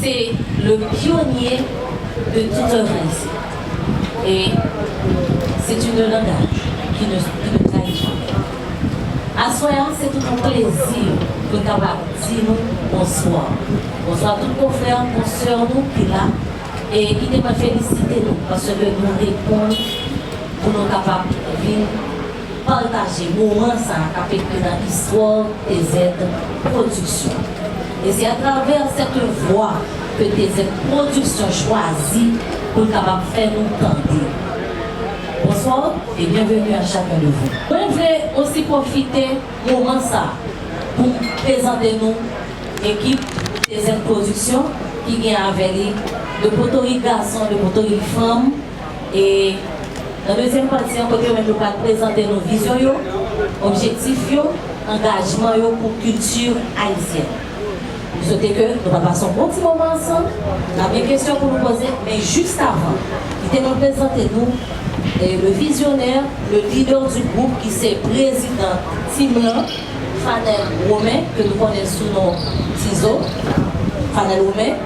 Se le pionye de tout oeuvre ayisyen e se tu ne langaj ki ne ki ne trayi jamè. Aswè a se tout on plezi pou n kapab di nou bonswa. Bonswa tout konfrè, konsè nou ki la e kite mwen felisite nou paske nou reponn pou nou kapab vin Pataje moman sa a kap ekri nan istwa w TZ Production. E se atravè sèt vwa ke TZ Production chwazi pou l kapab fè nou tande. Bonsoir et bienvenue à chacun de vous. Mwen vle osi pwofite moman sa a pou m prezante nou ekip TZ Production ki gen avè li de potorik gason, de potorik fanm, E nan dezyèm pati an, kote yo menm yo pral prezante nou vizyon yo, objektif yo, angajman yo pou kilti ayisyèn. M swete ke nou pral pase yon bon ti moman ansanm. N ap gen kesyon pou nou poze, men jiskavan, li te konn prezante nou le visionnaire, le leader du groupe ki se prezidan team lan, Fanel Romain, ke nou konnen sou non Tizo, Fanel Romain.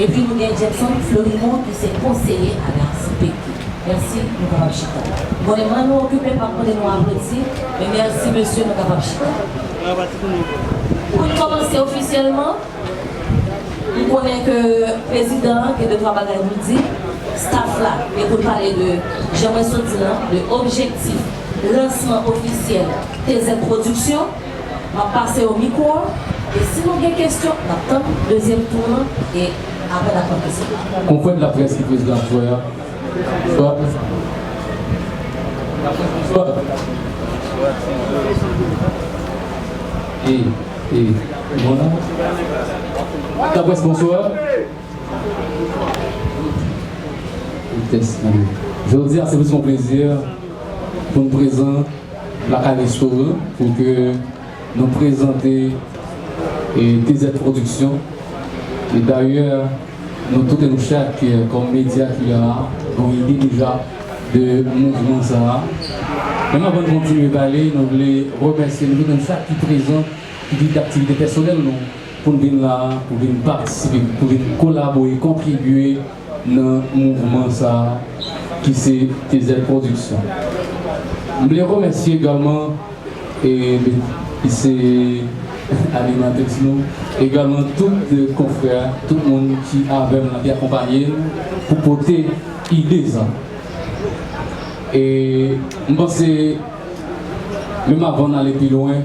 Epi nou gen Jackson Florimo ki se konseye a la CPQ. Merci nou kapab chita. Mwen reman nou okipe pa konnen nou aplodi men merci mesye nou kapab chita. Pou n kòmanse ofisyèlman, m konnen ke prezidan an gen de twa bagay pou l di staff la e pou l pale de jan mwen sot di l lan de objektif lansman ofisyèl TZ Production. Map pase yo mikwo an e si nou gen kestyon nap tann dezyèm tour lan e aprè nap pran kestyon. Konfrèt laprès ki prezidan aswè a Jodi a se plis yon plezi poun prezan. Lakale Store pou ke nou prezante TZ Production e dayè nou toute nou chak kòm medya ki la a gon ide deja de mouvman sa a. Menm avan n kontinye pale nou vle remèsye nou toute nou chak ki prezan ki kite aktivite pèsonèl nou pou n vin la a, pou n vin patisipe, pou n vin kolabore, kontribye nan mouvman sa a ki se TZ Production. M vle remèsye egalman ki se animatrice nou, egalman tout konfrè, tout moun ki avè m nan, ki akonpanye m pou pote ide sa. E m panse menm avan n ale pi lwen,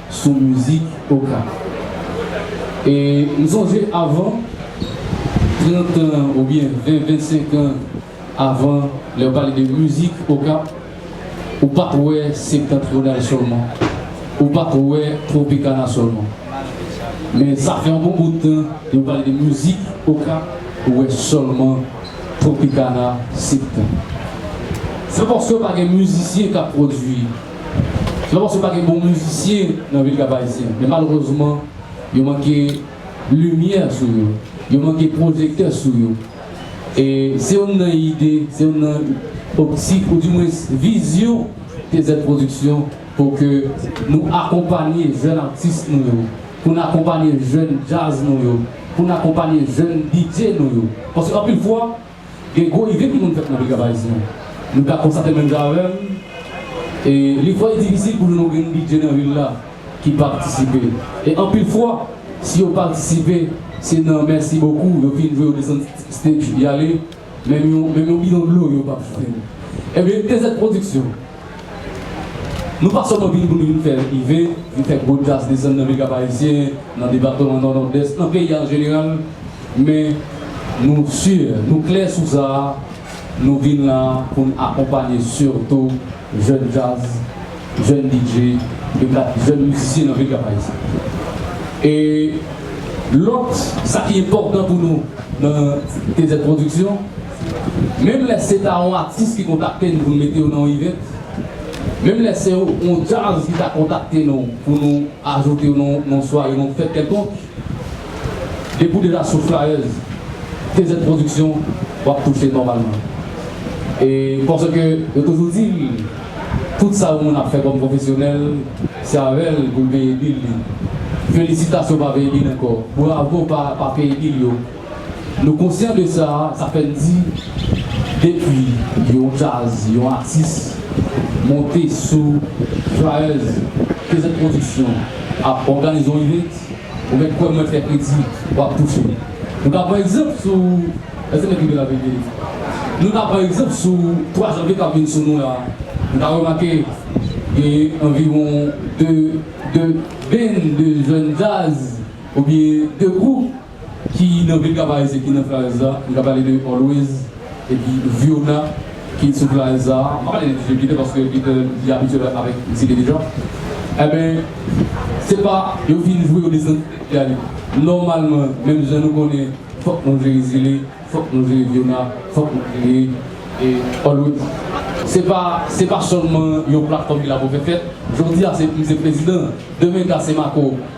sou mizik Okap e m sonje avan 30 tan ou byen 20 25 an avan lè yo pale de mizik Okap ou pat wè Septentrional sèlman ou pat wè Tropicana sèlman men sa fè yon bon bout tan yo pale de mizik Okap ou wè sèlman Tropicana Septen se paske pa gen mizisyen kap pwodwi. Se pa paske pa gen bon mizisyen nan vil Kap Ayisyen, men malerezman yo manke limyè sou yo, yo manke pwojektè sou yo. E se youn nan ide, se youn nan optik ou di mwens vizyon TZ Production pou ke nou akonpanye jèn atis nou yo, pou n akonpanye jèn djaz nou yo, pou n akonpanye jèn DJ nou yo. Paske anpil fwa. Gen gwo ide ki konn fèt nan Picap Ayisyen. Nou ta konstate menm jan avè m, e li twò difisil pou nou nou gen bidjè nan vil la ki patisipe. E anpil fwa, si yo patisipe, se nan mèsi bokou, yo fin jwe yo desann stage y ale, menm yon bidon dlo yo p ap jwenn. Enben, TZ Production Nou pa sèlman vini pou nou vin fè rive, vin fè gwo tas desann nan vil Kap-Ayisyen, nan depatman Nò, Nòdès, nan peyi a an jeneral, men nou si, nou klè sou sa, nou vin la a pou n akonpanye sitou jèn djaz, jèn DJ, jèn mizisyen nan vil Kap-Ayisyen. E lòt, sa ki enpòtan pou nou nan TZ Production, Menm lè se ta yon atis ki kontakte n pou n mete yo nan yon ivèt, menm lè se yon djaz ki ta kontakte nou pou nou ajoute yo nan yon sware, nan yon fèt kèlkonk, depi w deja sou flayèz TZ Production, w ap touche nòmalman. E paske yo toujou di l, tout sa yon moun ap fè kòm pwofesyonèl, se avè l pou l peye bil li. Felisitasyon pa veye bil ankò, bravo pa peye bil yo. Nou konsyan de sa, sa fè n di depi yon djaz, yon atis monte sou flyers KZ Production ap òganize yon event, ou mèt kwè m mwen fè kredi, w ap touche. Nou ka pran egzanp sou, èske nèg rive la veye tele? Nou ka pran egzanp sou 3 janvye k ap vin sou nou la, nou ka remake genyen anviwon 2 band, 2 jèn djaz oubyen 2 gwoup ki nan vil Kapaez e ki nan Flaez la, m ka pale de Always epi Viona ki sou Flaez la, m pa pale de DJ Peter paske Peter li abitye bay avèk Mesye Dede deja, enben se pa yo fin jwe yo desann li ale, nòmalman menm jan nou konnen fòk nou jere Zile, fòk nou jere Viona, fòk nou jere Always. Se pa se pa sèlman yon platfòm ki la pou fè fèt, jodi a se m se prezidan, demen ka se Marco.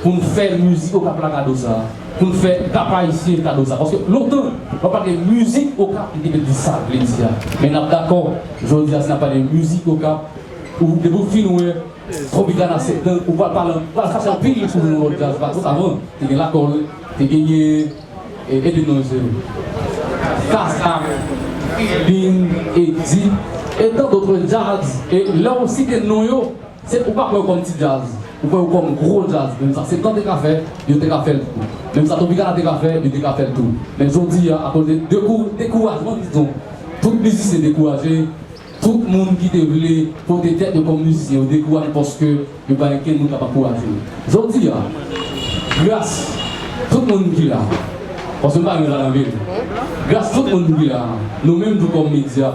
Pou n fè mizik okap la kado sa a, pou n fè pèp ayisyen kado sa a. Paske lontan, lè w pale de mizik okap, li te vle di sa l vle di a. Men n ap dakò, jodi a si n ap pale de mizik okap, ou depi w fin wè Tropicana 7 lan, ou pral pale, ou pral chache anpil pou jwenn yon lòt djaz paske avan, te gen Lakòl, te genyen, ede m non mesye yo, Kasa, Kribin, Edi, e tandotre djaz, e lè w site non yo, Se ou pa kwè kòm ti djaz, ou kwè ou kòm gwo djaz menm sa septan te ka fè yo te ka fèl tou menm sa tropicana te ka fè yo te ka fèl tou men jodi a akoz de dekourajman diton tout mizisyen dekouraje tout moun ki te vle pote tèt yo kòm mizisyen yo dekouraje paske yo pa gen kenn moun kapab kouraje yo jodi a gras tout moun ki la paske m pa renmen sa nan vim gras tout moun ki la nou menm tou kòm medya.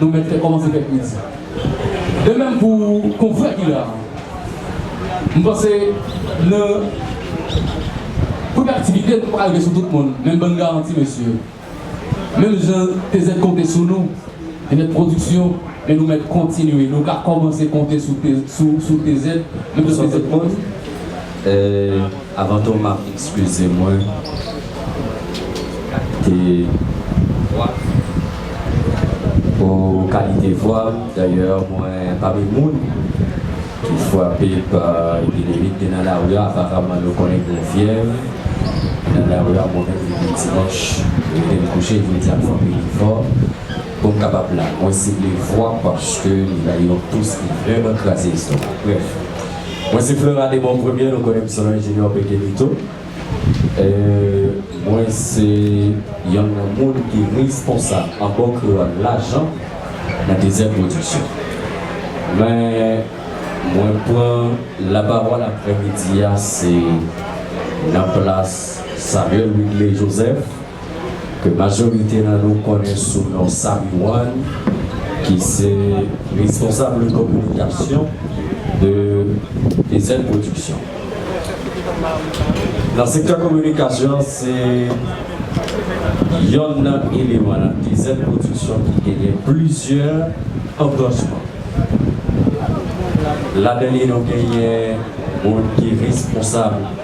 Nou mèt fè kòmanse fè kriz. De mèm pou konfrè ki la a. M panse nan pwodaktivite nou pa ka rive sou tout moun men m ban n garanti mesye menm jan TZ konte sou nou li mèt pwodiksyon men nou mèt kontinye nou ka kòmanse konte sou TZ menm jan TZ konte. Avan tou map excuser mwen te vwa pou kalite vwam d'ailleurs mwen pami moun ki fwape pa epidemi te nan lari aparamman yo konnen gen fyèv nan lari a mwen menm depi dimanch retem kouche jodi a fòk mwen fò poum kapab la mwen sible vwa paske li bay yon tous ki vrèman kraze estomak brèf. Mwen se Fleurat Démon Premier nou konnen m sou non Junior Pekelito Mwen se yonn nan moun ki responsab an bon kreyòl lajan nan Dezè Pwodiksyon Men mwen pran lapawòl aprèmidi a se nan plas Samuel Wigley Joseph. ke majorite nan nou konnen sou non Samy One ki se responsable communication de Ezel Production. Nan sektè kominikasyon an se yonn nan eleman nan Ezel Production ki genyen plizyè anbranchman. Ladan li nou genyen moun ki responsable.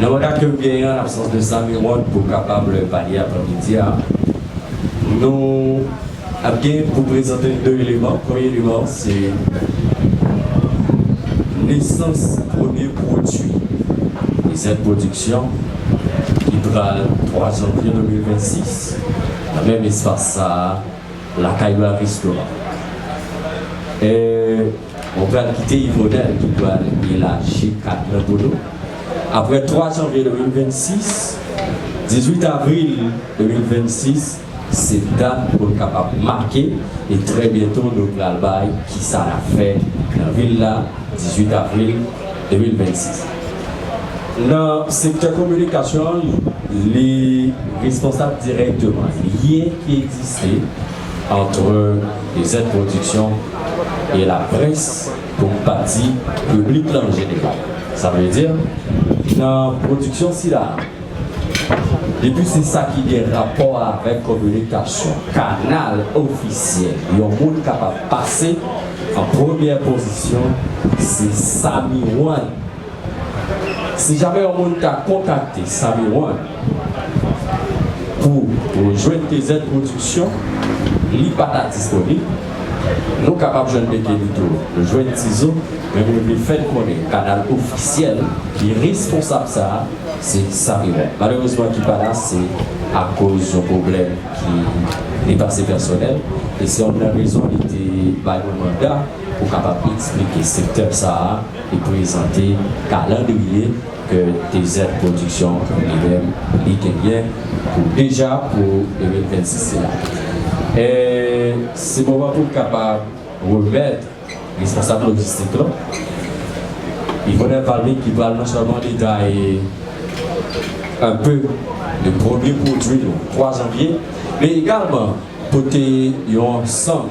Nan manda ke m genyen an absans de sa mi wont pou kapab pale avan midi a, nou ap gen pou prezante n 2 eleman. Premye eleman an se nesans premye pwodui, rezèv pwodiksyon ki pral 3 janvye 2026 nan menm espas sa a, Lakay Bravistoa. Mwen pral kite Yvonel ki pral elaji kat mwen pou nou. Aprè 3 janvye 2026, 18 avril 2026 se dat pou n kapab make e trè byento nou pral bay kisa n ap fè nan vil la 18 avril 2026. Nan sektè kominikasyon an li responsab dirèkteman lyen ki egziste antre Dezèd Pwodiksyon, e laprès pou m pa di piblik la an jeneral. Sa vle di, nan pwodiksyon sila a, depi se sa ki gen rapò avèk kominikasyon, kanal ofisyèl yon moun kapab pase, an premyè pozisyon se sa miwàn. Si jamè yon moun ka kontakte Samy One pou jwenn TZ Production, li pa ta disponib. Nou kapab jwenn Mekenito, nou jwenn Tizo, men mwen vle fè n konnen kanal ofisyèl ki responsab sa a, se Samy One. Malerezman ki pa la, se akoz yon pwoblèm ki depase pèsonèl, e se yonn nan rezon li te bay mwen manda pou kapab eksplike sektè sa a. Li prezante kalandriye ke TZ Production Univem li genyen pou deja pou 2026 sila. E se moman pou m kapab remèt responsab lojistik lan, Yvonel Valmy ki pral non sèlman detaye un peu de premye pwodui nou 3 janvye, men egalman pote yon ansanm.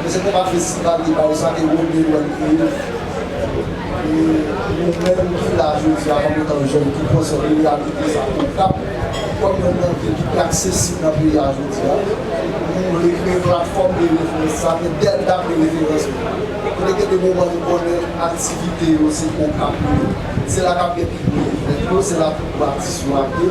Mwen se konpa festival de baww sa te Rony One kreye e nou menm ki la jodi a kòm etan jèn ki konsyan de reyalite sa Okap kòm yon nan vil ki pi aksesib nan peyi a jodi a nou vle kreye platfòm de referans sa men Dèlta vle referans nou kote gen de moman nou konnen aktivite yo se Okap li ye se la kap gen pi gwo evènm yo se la pi gwo atis yo ap ye.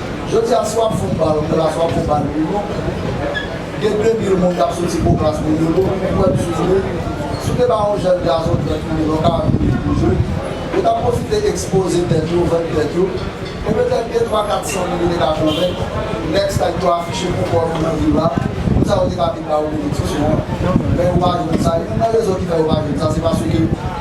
Jodi a si wap fon bal klas wap fon bal pi long, gen 2 mil moun kap soti pou klas pou Yolo, ou kwè misye jwe? Si w te ba yon jèn gason 30 mil yon 40 mil pou jwe, yo tap pwofite ekspoze tèt yo, vann tèt yo, e petèt 2 3 400 mil yo te ka konvenk nèg stad pou afiche pou kò nou nan vil la, moun sa yo te ka vin ba ou benediksyon an, men yo pa jwenn sa, youn nan rezon ki fè yo pa jwenn sa se paske.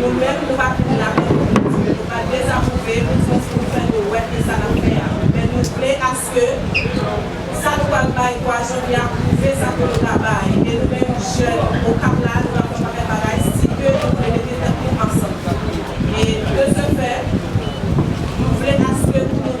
Nou menm nou pa vin la pou nou mouri, nou pa dezapwouve nou jis pou nou fè nou wè ke sa nap fè a, men nou vle aske sa nou pral bay kwa jodi a pwouve sa ke nou ka bay e nou menm jèn okap la nou tap fè pakèt bagay si ke nou vle mete tèt nou ansanm e de se fè nou vle aske pou nou.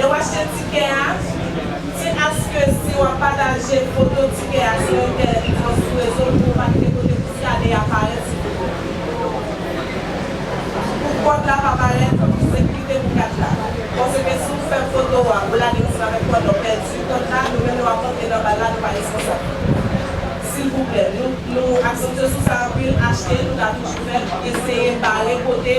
Lè w achte tikè a, se aske si w ap pataje foto tikè a sou entènèt oswa sou rezo pou w valide kote pou skane a parèt sou foto w. Pou kòd la pa parèt, pou sekirite pou kat la. Paske si w fè foto a, ou lage misye avèk kòd la, w pèdi kòd la, nou menm nou ap rantre nan bal la, nou pa responsab. Silvouplè, nou aksantye sou sa anpil, achte, nou ka toujou fè l, eseye bare kote.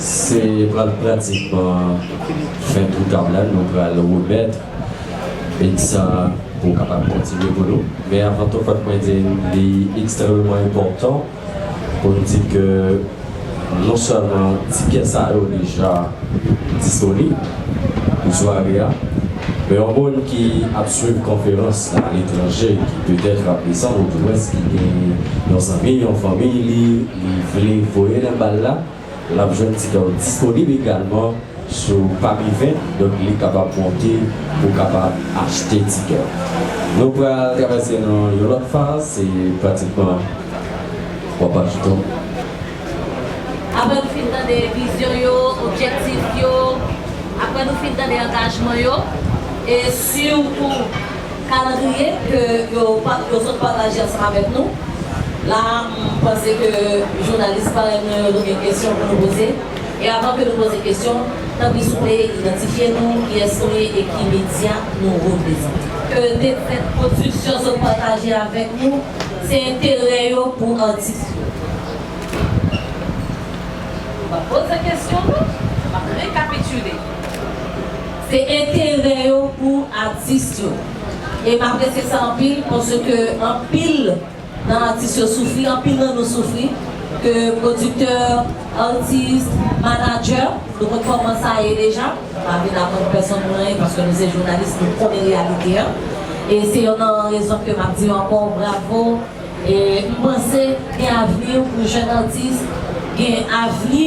Se pral pratikman fen tou tab la nou pral remèt big sa pou w kapab kontinye pou nou. Men avan tou fòk mwen di n li ekstrèmeman enpòtan pou n di ke non sèlman tikè sa yo deja disponib pou sware a, men yon moun ki ap swiv konferans nan aletranje ki petèt ap desann odwès ki gen yon zanmi, yon fanmi li. li vle voye nan bal la, l ap jwenn ti dòl disponib egalman sou pami 20, donk li kapab monte pou kapab achte ti dòl. Nou pral travèse nan yon lòt faz, se pratikman 3 pa piton. Aprè nou fin tande vizyon yo, objektif yo, aprè nou fin tande angajman yo, e sitou. Kalandriye ke yo yo sot pataje ansanm avèk nou la a, m panse ke jounalis parèy mwen yo dwe gen kesyon pou nou poze. E avan ke nou poze kesyon, tanpri souple idantifye nou, kiyès nou ye e ki medya nou reprezante. Ke dekrè pwodiksyon sot pataje avèk nou, se enterè yo pou atis yo. M pa poze kesyon non, m ap rekapitile. Se enterè yo pou atis yo. E m apresye sa anpil paske anpil nan atis yo soufri, anpil nan nou soufri ke pwodiktè, atis, manadjè, nou konn kòman sa ye deja, m pa vin aprann pèsonn moun anyen paske nou se jounalis nou konnen reyalite an. E se yonn nan rezon ke m ap di yo ankò bravo e m panse gen avni pou jèn atis gen avni.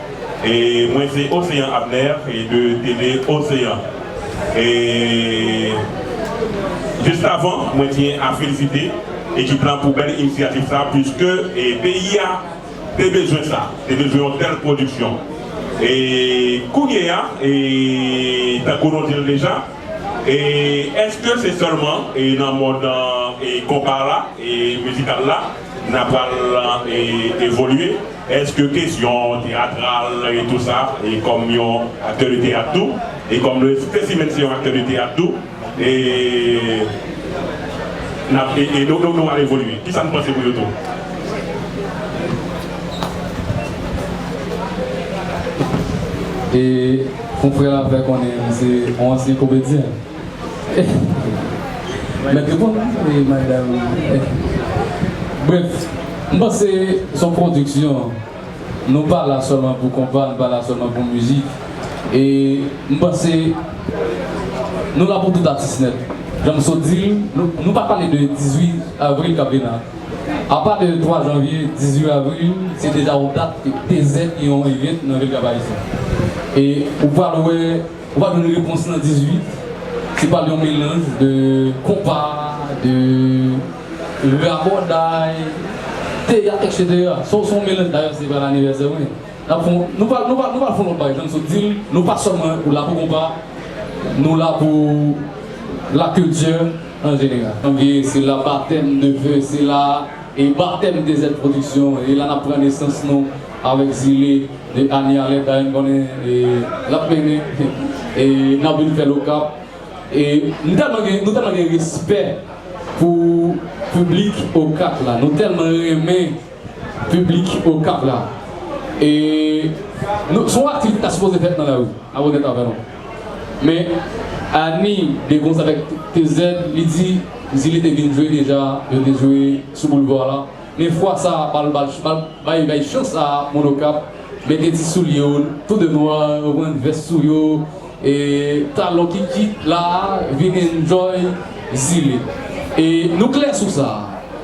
E mwen se Océan Abner e de Télé Océan e just avan mwen tiyen a felisite ekip lan pou bèl inisyativ sa puiske e peyi a te bezwen sa te bezwen yon tèl pwodiksyon e kounyeya e tankou nou dil deja e eske se sèlman e nan mond e konpa la e mizikal la. Nan pral evolye eske kesyon teyatral e tou sa e kòm yon aktè de teyat tou e kòm nou espesi menn se yon aktè de teyat tou e nap e e nou nou al evolye kisa nou panse pou yo tou. E konfrè la fè konnen li se yon ansyen komedyen. Mèt reponn la e madam Bref, m panse s on pwodiksyon Nou pa la sèlman pou konpa, nou pa la sèlman pou mizik E m panse Nou la pou tout atis nèt Jan m sot di l, nou pa pale de 18 avril k ap vin la Apa de 3 janvye, 18 avril se deja yon dat ki peze yon event nan vil Kap Ayisyen E ou pral wè Ou pa jwenn repons nan 18. Se pral yon melanj de konpa, de rabòday, teyat etc. Sa w se yon melanj dayè se pral anivèsè mwen. N ap fon, nou pral nou pral nou pral fon lòt bagay jan m sot di l, nou pa sèlman la pou konpa, nou la pou la culture en général. Ebyen se la batèm, neveu se la. E batèm Desert Production e la nap pran nesans nou avèk Zile de Annie Alert dayè m konnen e lap mennen e nap vin fèl Okap e m tèlman gen nou tèlman gen respè pou piblik Okap la nou tèlman renmen piblik Okap la e nou son aktivite ta sipoze fèt nan lari a wonnèt avè nou. Men Annie gen konz avèk TZ li di zile te vin jwe deja yo te jwe sou boulvwa la men fwa sa bal bay bay chans sa moun okap mete ti soulye yo tou de nwa yo pran vès sou yo e talon kikit la vin enjoy zile e nou klè sou sa.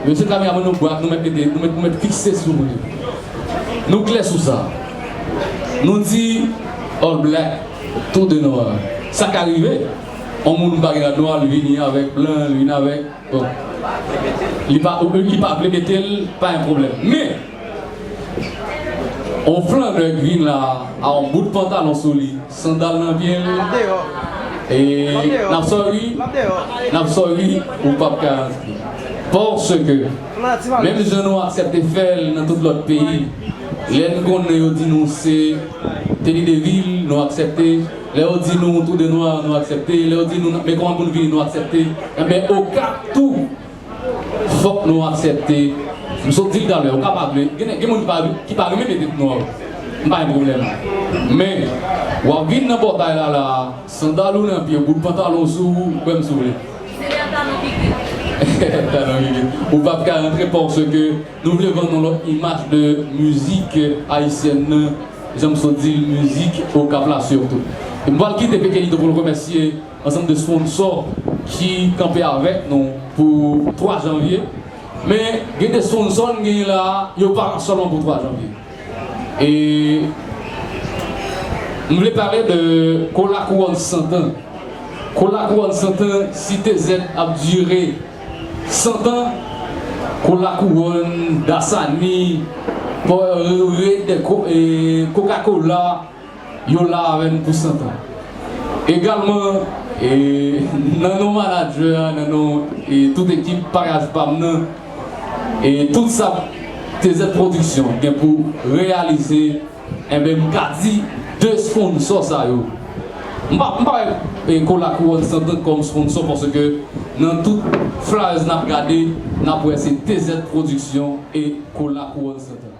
Mesye kameraman nou bwat nou mèt mete nou mèt nou mèt fikse sou mwen nou klè sou sa nou di all black tou de nwa sa ka rive on moun m pa gen rad nwa l vini avèk blan l vini avèk bon li pa ou li pa vle mete l pa yon pwoblèm men on flandè k vin la a on bout pantalon sou li. Sandal nan pye l. Lap deyo. Lap deyo. Nap sorry. Lap deyo. Nap sorry ou pap ka antre. Paske menm jan nou aksepte fè l nan tout lòt peyi lè n konnen yo di nou se teni de vil nou aksepte lè yo di nou trou de nwa nou aksepte lè yo di nou men kòman pou n vini nou aksepte enben okap tou Fok nou aksepte m sot dil talè ou kapab vle gen gen moun ki pa ki pa renmen mete tnwa wi m pa gen pwoblèm men wap vin nan pòtay la la sandal ou nan pyew bout pantalon sou ou kwèm si w vle talon gigit ou pap ka rantre pòske nou vle vann yon lòt imaj de mizik ayisyèn nan janm sot dil mizik okap la sitou m pwal kite pekelito poul remèsye. ansanm de sponsò ki kanpe avèk nou pou 3 janvye men gen de sponsò n genyen la a yo pa la sèlman pou 3 janvye e m vle pale de kola kouwòn santan kola kouwòn santan si TZ ap dire santan kola kouwòn dasani pò re de kokakola. Yo la avè n pou santan. Egalman, nan non manadjè a, nan non tout ekip Paraj pa m nan, tout sa TZ Production gen pou reyalize, enben m ka di 2 sponsò sa yo, m pa wè Ko La Kouwòn Santan kòm sponsò paske nan tout flyers n ap gade, n ap wè se TZ Production e Ko La Kouwòn Santan.